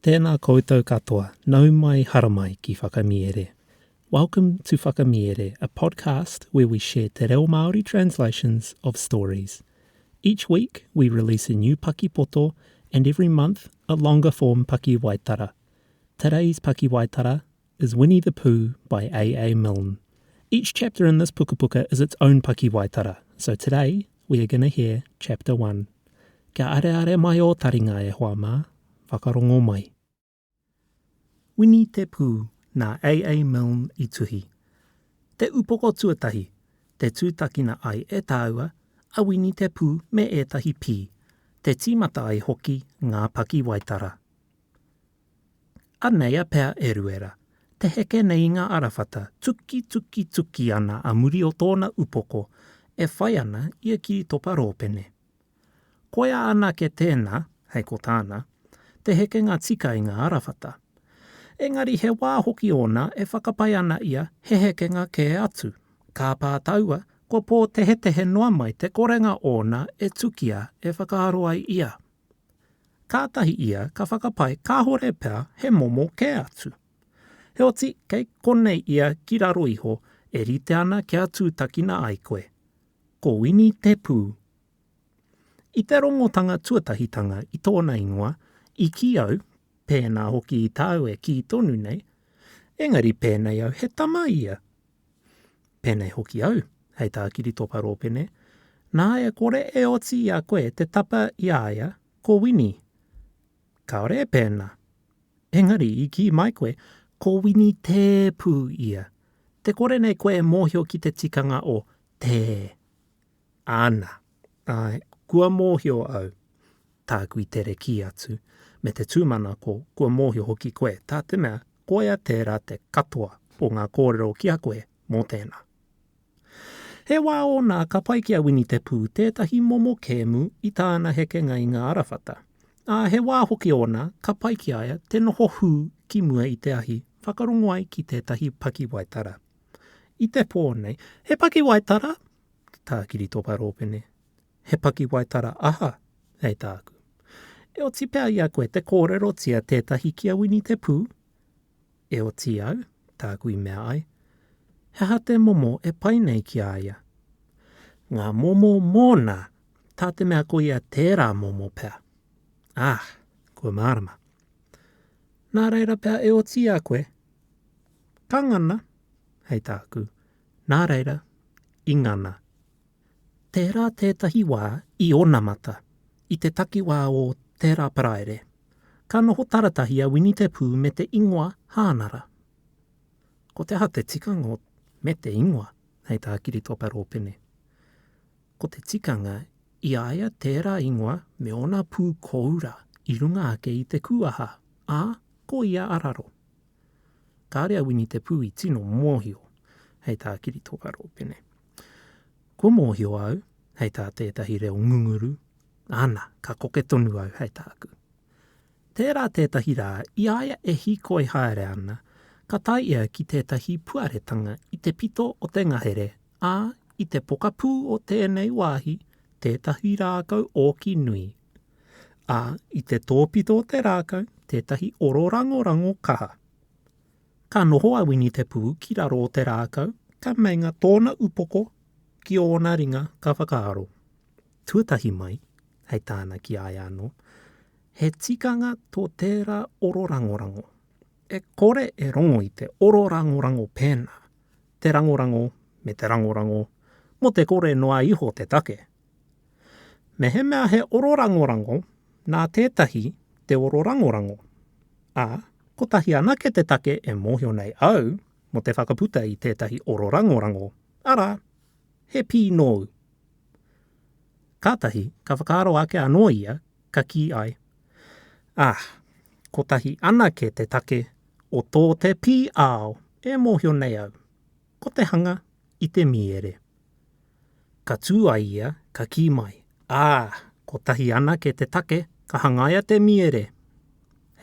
Tēnā koutou katoa, nau mai haramai ki Whakamiere. Welcome to Whakamiere, a podcast where we share te reo Māori translations of stories. Each week we release a new pakipoto and every month a longer form pakiwaitara. Today's pakiwaitara is Winnie the Pooh by AA Milne. Each chapter in this pukapuka is its own pakiwaitara, so today we are going to hear chapter one. Kia areare mai ō taringa e hoa mā, whakarongo mai. Winnie te Pū nā AA Milne i tuhi. Te upoko tuatahi, te tūtakina ai e tāua a Winnie te Pū me ētahi pī, te tīmata ai hoki ngā pakiwaitara. Anei a Pea Eruera, te heke nei i ngā arawhata, tuki tuki tuki ana a muri o tōna upoko, e whai ana i a Kiritopa Rōpene. Koia anake tēnā, hei ko tāna, te hekenga tika i ngā arawhata. Engari he wā hoki ōna e whakapae ana ia he hekenga kē atu. Kāpā taua, kua pōtehetehe noa mai te korenga ōna e tukia e whakaaro ai ia. kātahi ia ka whakapae kāore pea he momo kē atu. Heoti, kei konei ia ki raro iho e rite ana kia tūtakina ai koe. Ko Wini te pū. I te rongotanga tuatahitanga i tōna ingoa, i kī au, pēnā hoki i tāu e kī tonu nei, engari pēnei au he tama ia, Pēnei hoki au, hei tā Kiritopa Rōpene, nā e kore e oti i a koe te tapa i a ia, ko Wini. Kāore e pēnā. Engari, i kī mai koe, ko Wini Tē pū ia. Te kore nei koe e mōhio ki te tikanga o Tē. Ana, ae, kua mohio au, taku i tere ki atu, me te tumanako, kua mohio hoki koe, ta te mea, koia tera te katoa o nga korero ki a koe mo tena. He wa ona ka pai ki a Wini Te Pu tetahi momo kemu i tana hekenga i nga arawhata, a he wa hoki ona ka pai ki a ia te noho hu ki mua i te ahi whakarongo ai ki tetahi pakiwaitara. I te pō nei, he pakiwaitara? Tā Kiritopa Rōpene, He pakiwaitara aha, hei tāku? E oti pea i a koe te kōrerotia tētahi ki a Wini Te Pū? E oti au, tāku i mea ai. He aha te momo e pai nei ki a ia? Ngā momo mōna, tā te mea ko ia tērā momo pea. Ah, kua mārama. Nā reira pea e oti i a koe? Ka ngana, hei tāku, nā reira, i ngana. Tērā tētahi wā i onamata, i te takiwā o tērā Paraire, ka noho taratahi a Wini Te Pū me te ingoa Hānara. Ko te aha te tikanga o me te ingoa, hei tā Kiritopa Rōpene? Ko te tikanga i a ia tērā ingoa me ōna pū kōura i runga ake i te kūaha, ā, ko ia a raro. Kāre a Wini Te Pū i tino mōhio hei tā Kiritoka Rōpene. Kua mōhio au hei tā tētahi reo ngunguru, ana, ka koke tonu au hei tāku. Tērā tētahi rā i a ia e hīkoi haere ana, ka tae ia ki tētahi puaretanga i te pito o te ngahere, ā, i te pokapū o tēnei wāhi, tētahi rākau ōki nui, ā, i te tōpito o te rākau tētahi oro rangorango kaha. Ka noho a Winitepū ki raro o te rākau, ka meinga tōna upoko ki ōna ringa ka whakaaro. Tuatahi mai, hei tāna ki a ia anō, he tikanga tō tērā oro rangorango. E kore e rongo i te oro rangorango pēnā, te rangorango me te rangorango, mō te kore noa iho te take. Mehemea he ororangorango, nā tētahi te ororangorango. Ā, kotahi anake te take e mōhio nei au mō te whakaputa i tētahi ororangorango, arā, he pī nōu. Kātahi ka whakaaro ake anō ia, ka kī ai, Ā, kotahi anake te take o tō te pī āo e mōhio nei au, ko te hanga i te mīere. Ka tū a ia, ka kī mai, Ā, kotahi anake te take ka hangaia te miere!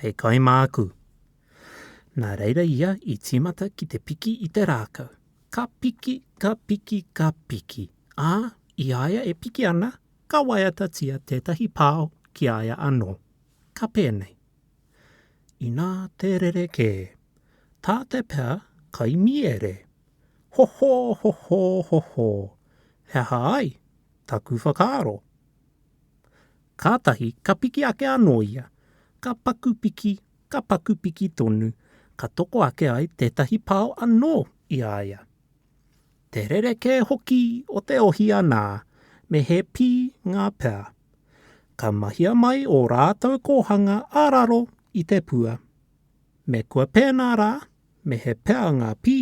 Hei kai māku. Nā reira ia i tīmata ki te piki i te rākau. Ka piki, ka piki, ka piki, ā, i a ia e piki ana, ka waiatatia tētahi pao ki a ia anō. Ka pēnei. Inā te rerekē. Tā te pea kai miere. Ho ho ho ho ho ho He aha ai taku whakaaro? Kātahi ka piki ake anō ia, ka paku piki, ka paku piki tonu, ka toko ake ai tētahi pao anō i a ia. Te rerekē hoki o te ohi anā, me he pī ngā pea. Ka mahia mai ō rātou kōhanga ā raro i te pua. Me kua pēnā rā, me he pea ngā pī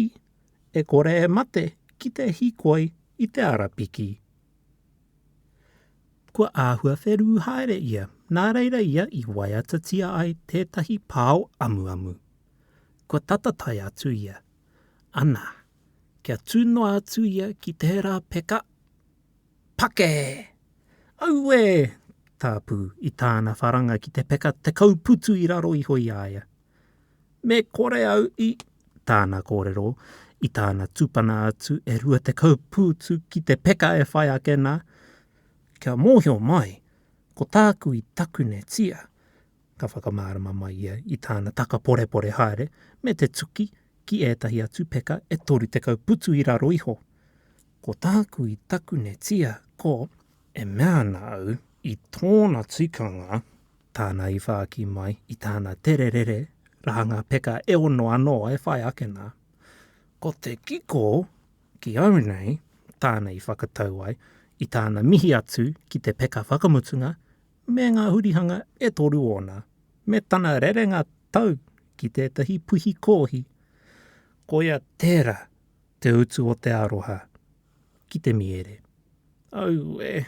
e kore e mate ki te hikoi i te arapiki. Kua āhua wherū haere ia, nā reira ia i waiatatia ai tētahi pao amuamu. Kua tata tae atu ia, anā, kia tū noa atu ia ki tērā peka, Pake! Auē! tāpū i tāna wharanga ki te peka tekau putu i raro iho i a ia. Me kore au i. Tāna kōrero, i tāna tupana atu e rua tekau pūtu ki te peka e whai ake nā, kia mōhio mai, ko tāku i takunetia, ka whakamārama mai ia i tāna taka porepore haere me te tuki ki ētahi atu peka e toru tekau putu i raro iho. Ko tāku i takunetia, ko. E mea ana au, i tōna tikanga. Tāna i whāki mai i tāna tererere rahanga peka e ono anō e whai ake nā. Ko te kiko ki au nei, tāna i whakatau ai i tāna mihi atu ki te peka whakamutunga me ngā hurihanga e toru ōna, me tana rerenga tau ki tētahi puhi kōhi. Koia tērā te utu o te aroha. ki te miere. Aue!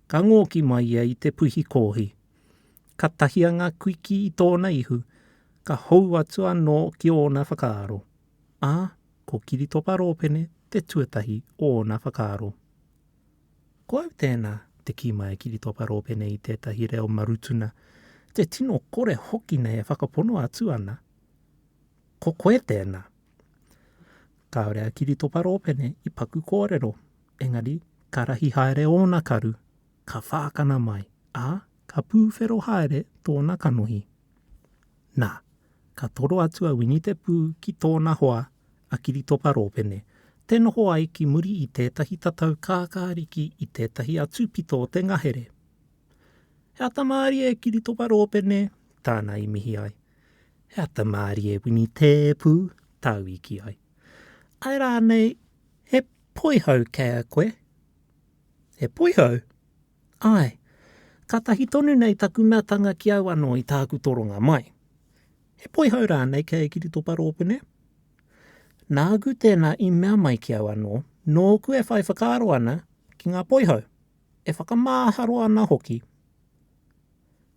Ka ngōki mai ia i te puhi kōhi. Ka tahia ngā kuiki i tōna ihu, ka hou atu anō ki ōna whakaaro. Ā, ko Kiritopa Rōpene te tuatahi o ōna whakaaro. Ko au tēnā, te kī mai a Kiritopa Rōpene i tētahi reo marutuna, te tino kore hoki nei e whakapono atu ana. Ko koe tēnā. Kāore a Kiritopa Rōpene i paku kōrero, engari ka rahi haere ōna karu, ka whākana mai, ā, ka pūwhero haere tōna kanohi. Nā, ka toro atu a Wini Te Pū ki tōna hoa, a Kiritopa Rōpene, te noho ai ki muri i tētahi tatau kākāriki i tētahi atu pito o te ngahere. He ata mārie Kiritopa Rōpene tāna i mihi ai. He ata mārie Wini Tēpu tāu i kī ai. Ae rānei he poihau kei a koe? He poihau? Ae. Kātahi tonu nei taku meatanga ki au anō i tāku toronga mai. He poihau rānei kei a Kiritopa Rōpene? Nāku tēnā i mea mai ki au anō, nōku e whai whakaaro ana ki ngā poihau. E whakamāharo ana hoki,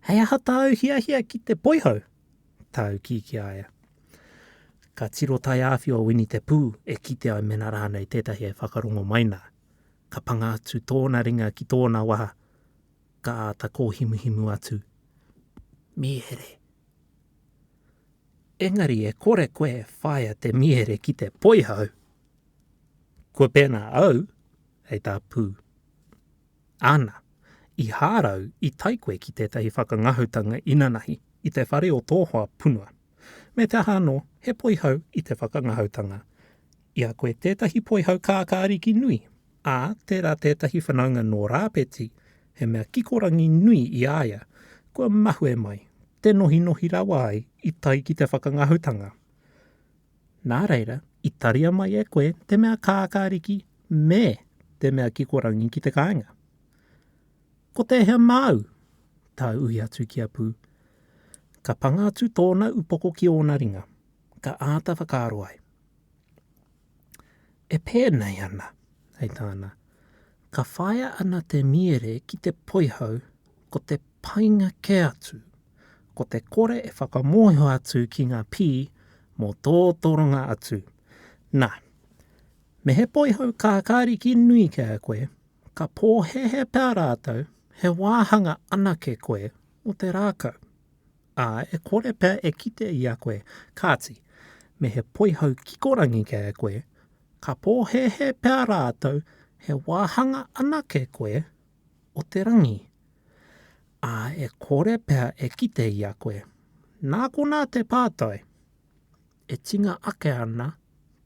Hei aha tāu hiahia ki te poihau? tāu kī ki a ia. Ka tiro taiāwhio a Wini te Pū e kite ai mēnā rānei tētahi e whakarongo mai nā. Ka panga atu tōna ringa ki tōna waha, ka āta kōhimuhimu atu, Mīhere! Engari e kore koe e whāia te mīhere ki te poihau! Kua pēnā au! hei tā Pū. Ana, i hārau i tae koe ki tētahi whakangahutanga inanahi i te whare o tō hoa punua. Me te aha anō, he poihau i te whakangahautanga. I a koe tētahi poihau kākāriki nui, ā, tērā tētahi whanaunga nō Rāpeti, he mea kikorangi nui i a ia, kua mahue mai, te nohinohi rawa ai i tae ki te whakangahutanga. Nā reira, i taria mai e koe te mea kākāriki me te mea kikorangi ki te kāinga. Ko tēhea māu? Tā Uhi atu ki a Pū. Ka panga atu tōna upoko ki ōna ringa, ka āta whakaaro ai. E pēnei ana, hei tāna, Ka whāia ana te miere ki te poihau ko te painga kē atu, ko te kore e whakamōhio atu ki ngā pī mō tō toronga atu. Nā, me he poihau kākāriki nui kē koe, ka pōhēhē pea rātou he wāhanga anake koe mō te rākau, ā, e kore pea e kite i a koe, kāti, me he poihau kikorangi kē koe, Ka pōhēhē pea rātou he wāhanga anake koe o te rangi, ā, e kore pea e kite i a koe. Nā konā te pātai, E tinga ake ana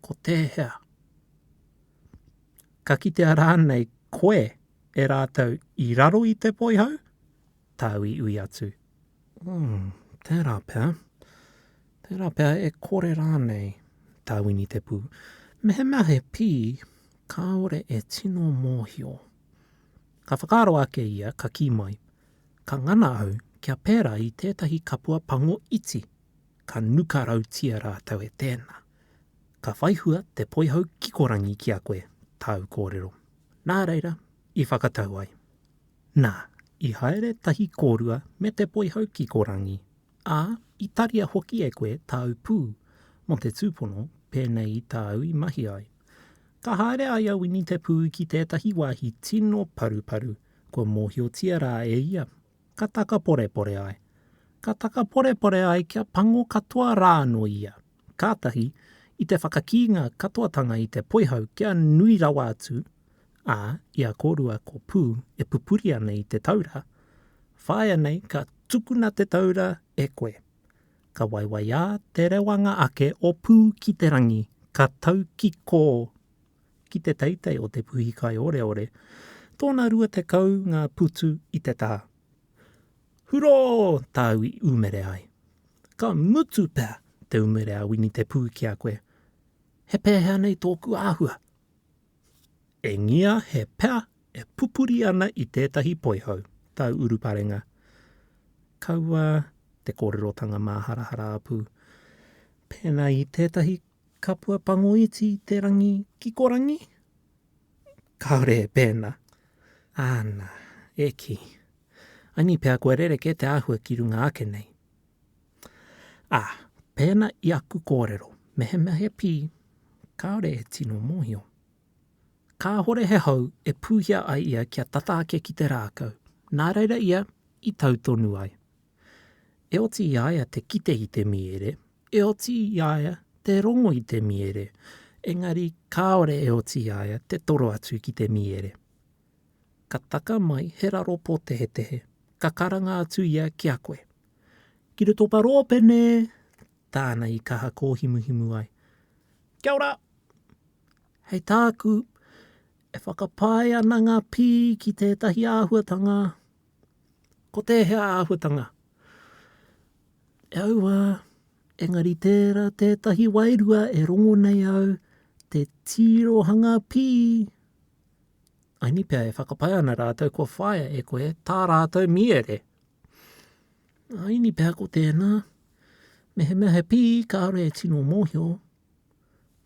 ko tēhea? Ka kitea rānei koe e rātou i raro i te poihau? tāu i ui atu. Umm, tērā pea. Tērā pea e kore rānei tā Winitepū. Mehemea he pī, kāore e tino mōhio. Ka whakaaro ake ia, ka kī mai, Ka ngana au kia pērā i tētahi kapua pango iti, ka nuka rautia rātou e tēnā. Ka whai hua te poihau kikorangi ki a koe, tāu kōrero. Nā reira, i whakatau ai. Nā, i haere tahi kōrua me te poihau ki ko Rangi, ā, i taria hoki e koe tāu pū mō te tūpono pēnei i tāu i mahi ai. Ka haere a ia Wini te pū ki tētahi wāhi tino paruparu kua mōhiotia rā e ia, ka takaporepore ai. Ka takaporepore ai kia pango katoa rā anō ia. kātahi i te whakakīnga katoatanga i te poihau kia nui rawa atu, ā, i a kōrua ko Pū e pupuri ana i te taura, Whāia nei ka tukuna te taura e koe. Ka waiwaiā te rewanga ake o Pū ki te rangi, ka taukikō ki te teitei o te puhi kaioreore, tōna rua tekau ngā putu i te taha. Hurō tāu i umere ai. Ka mutu pea te umere a Wini Te Pū ki a koe. He pēhea nei tōku āhua? Engia he pea e pupuri ana i tētahi poihau, tāu uruparenga. Kaua te kōrerotanga māharahara apu, pēnā i tētahi Kapua pango iti te rangi kikorangi? Kāore e pēnā. Āna, e kī. Anī pea kua rerekē te āhua ki runga ake nei. Ā, pēnā i aku kōrero, mehemea he pī, kāore e tino mōhio. Kāhore he hou e pūhia ai ia kia tata ake ki te rākau, nā reira ia i tau tonu ai. E oti i a ia te kite i te mīere, E oti i a ia te rongo i te miere, engari kāore e oti i a ia te toro atu ki te miere. Ka taka mai he raro pōtehetehe, ka karanga atu ia ki a koe. Ki roto o Paropene! tāna i kaha kōhimuhimu ai. Kia ora! Hei tāku, e whakapae ana ngā pī ki tētahi āhuatanga, Ko tēhea āhuatanga? E aua, engari tērā tētahi wairua e rongo nei au te tirohanga pī, aini pea e whakapae ana rātou kua whāia e koe tā rātou mīere. Aini pea ko tēnā, mehemea he pī kāore e tino mōhio,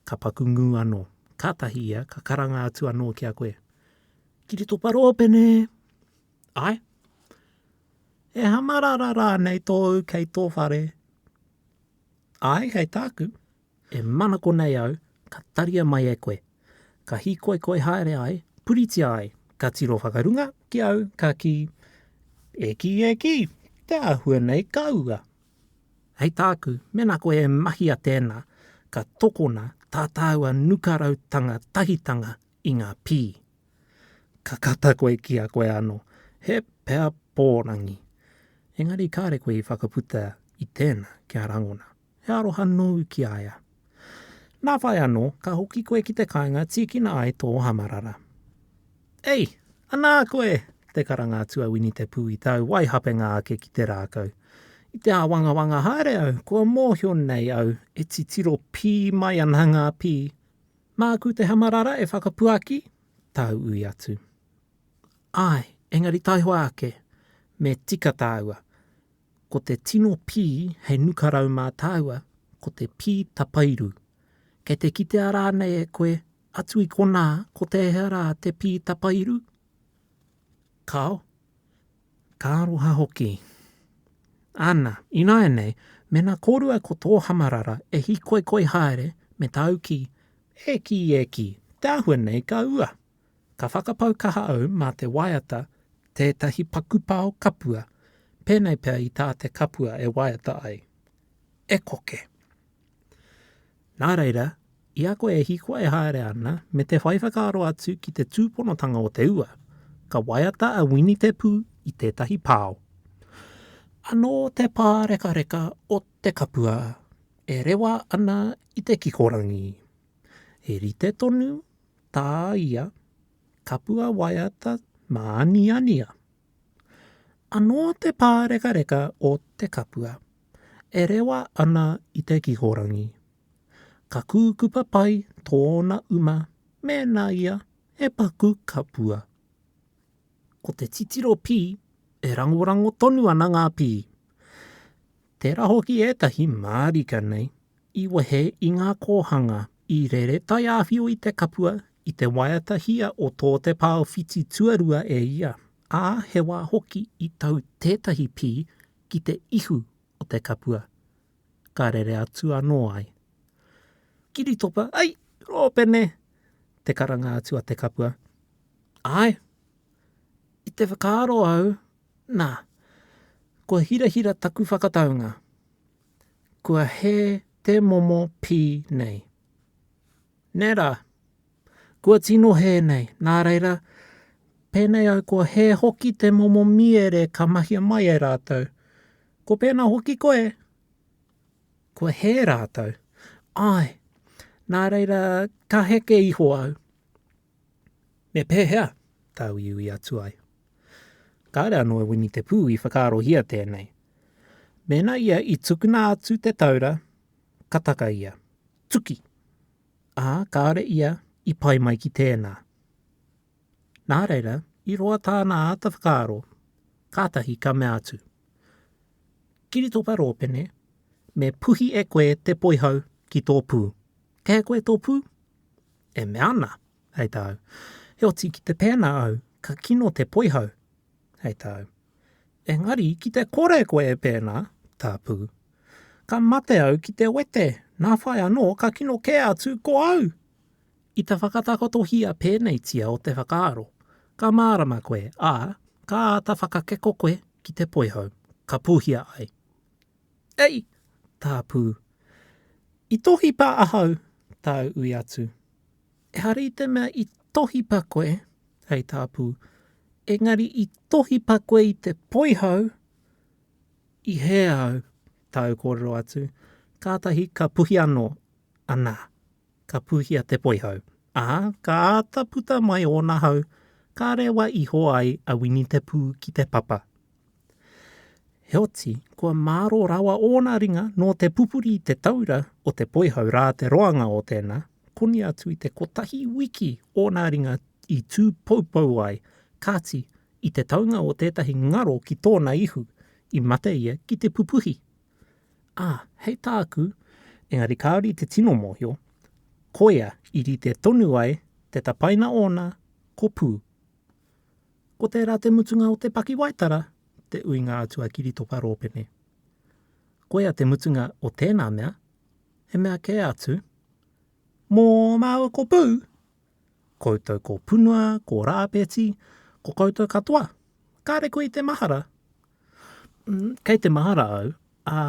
Ka paku ngū anō. Kātahi ia ka karanga atu anō ki a koe, Kiritopa Rōpene! Āe? E hamarara rānei tōu kei tō whare? Āe, kei tāku. E manako nei au, ka taria mai e koe. Ka hīkoikoi haere ai, puritia ai. Ka tiro whakarunga ki au, ka kī, E kī, e kī, te āhua nei ka ua. Hei tāku, mēnā koe e mahia tēnā, ka tokona tā tāua nukarautanga tahitanga i ngā pī. Ka kata koe ki a koe anō, he pea pōrangi. Engari kāre koe i whakaputa i tēnā kia rangona. He aroha nōu ki a ia. Nā whai anō, ka hoki koe ki te kāinga tīkina ai tō hamarara. Ei! Anā koe! te karanga atu a Wini Te Pū i tāu waihapenga ake ki te rākau. I te āwangawanga haere au, kua mōhio nei au e titiro pī mai ana ngā pī. Māku te hamarara e whakapuaki? tāu ui atu. Āe, engari taihoa ake, me tika tāua. Ko te tino pī hei nukarau mā tāua ko te pī tapairu. Kei te kitea rānei e koe atu i konā ko tēhea rā te pī tapairu? Kāo. Ka aroha hoki. Ana, ināianei, mēnā kōrua ko tō hamarara e hīkoikoi haere me tāu kī, E kī, e kī, te āhua nei ka ua! Ka whakapau kaha au mā te waiata tētahi pakupao kapua, pēnei pea i tā te kapua e waiata ai. E koke! Nā reira, i a koe e hiko e haere ana me te whai whakaaro atu ki te tūponotanga o te ua, ka waiata a Wini Te Pū i tētahi pao. Anō te pārekareka o te kapua e rewa ana i te kikorangi. He rite tonu tā ia kapua waiata māniania. Anō te pārekareka o te kapua e rewa ana i te kikorangi. Ka kūkupa pai tōna uma mēnā ia he paku kapua. Ko te titiro pī, e rangorango tonu ana ngā pī. Tērā hoki ētahi mārika nei i wehe i ngā kōhanga i rere taiāwhio i te kapua i te waiata hia o tō te pao whiti tuarua e ia, ā, he wā hoki i tau tētahi pī ki te ihu o te kapua, ka rere atu anō ai. Kiritopa, Ai, rōpene! te karanga atu a te kapua. Āe! I te whakaaro au, nā, kua hirahira taku whakataunga, kua hē te momo pī nei. Nē rā, kua tino hē nei, nā reira, pēnei au kua hē hoki te momo mīere ka mahia mai e rātou. Ko pēnā hoki koe, kua hē rātou. Āe, nā reira, ka heke iho au. Me pēhea tā uiui atu ai? Kāre anō e Wini Te Pū i whakaarohia tēnei. Mēnā ia i tukuna atu te taura, ka taka ia. Tuki! Ā, kāre ia i pai mai ki tēnā. Nā reira, i roa tāna āta whakaaro, kātahi ka mea atu, Kiritopa Rōpene, me puhi e koe te poihau ki tō pū. Kei a koe tō pū? e mea ana, hei tāu, Heoti ki te pēnā au, ka kino te poihau, hei tāu. Engari ki te kore koe e pēnā, tāpū, ka mate au ki te wete, nā whai anō ka kino kē atu ko au! I te whakatakotohia pēneitia o te whakaaro, ka mārama koe, ā, ka āta whakakeko koe ki te poihau, ka pūhia ai. Ei! Tā Pū. I tohipa ahau, tāu ui atu. Ehara i te mea i tohipa koe, hei tā Pū, engari i tohipa koe i te poihau i hē au, tāu kōrero atu, kātahi ka puhi anō, anā, ka pūhia te poihau, ā, ka āta puta mai ōna hau ka rewa iho ai a Wini te Pū ki te papa. Heoti, kua māro rawa ōna ringa nō te pupuri i te taura o te poihau rā te roanga o tēnā, koni atu i te kotahi wiki ōna ringa i tū poupou ai, kāti, i te taunga o tētahi ngaro ki tōna ihu, i mate ia ki te pupuhi. Ā, hei tāku, engari kāore i te tino mōhio, koia i rite tonu ai te tapaina ōna, ko Pū. Ko tērā te mutunga o te pakiwaitara, te uinga atu a Kiritoka Rōpene. Koia te mutunga o tēnā mea, he mea kē atu, Mō māua ko Pū, koutou ko Punua, ko Rāpeti, ko koutou katoa, kāre koe i te mahara. Kei te mahara au, ā,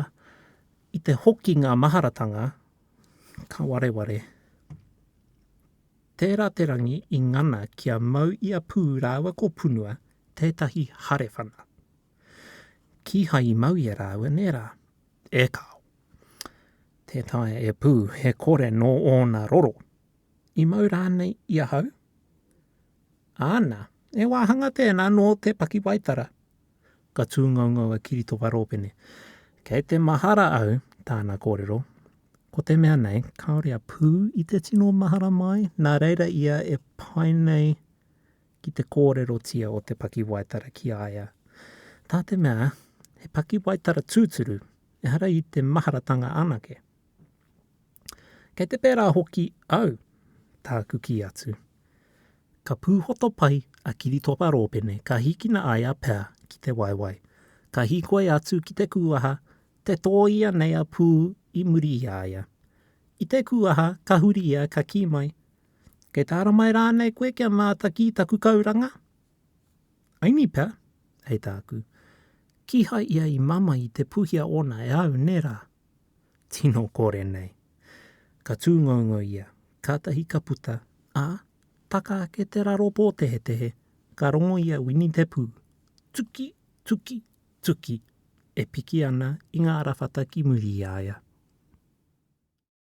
i te hoki ngā maharatanga, ka wareware. Tērā te rangi i ngana ki a Mau i a Pū rāua ko Punua tētahi hare whana. Kīhai i mau i a rāua, nē rā? E kāo. Tē taea e Pū, he kore nō ōna roro. I mau rānei i ahau? Āna, e wāhanga tēnā nō te pakiwaitara, ka tūngangau a Kiritoka Rōpene. Kei te mahara au, tāna kōrero, ko te mea nei, kāore a Pū i te tino mahara mai, nā reira ia e pai nei ki te kōrerotia o te pakiwaitara ki a ia. Tā te mea, he pakiwaitara tūturu, ehara i te maharatanga anake. Kei te pērā hoki au, tāku kī atu. Ka pūhoto pai a Kiritopa Rōpene ka hikina ai a Pea ki te waewae. Ka hīkoi atu ki te kūaha, te tōia nei a Pū i muri i a ia. I te kūaha ka huri ia ka kī mai, Kei te ara mai rānei koe kia mātaki i taku kauranga? Aini pea, hei tāku. Kīhai ia i mamae i te puhia ōna e au, nē rā? Tino kore nei. Ka tūngoungo ia, kātahi ka puta, ā, taka ake te raro pōtehetehe, ka rongo i a Wini te pū. Tuki! Tuki! Tuki! e piki ana i ngā rawhata ki muri i a ia.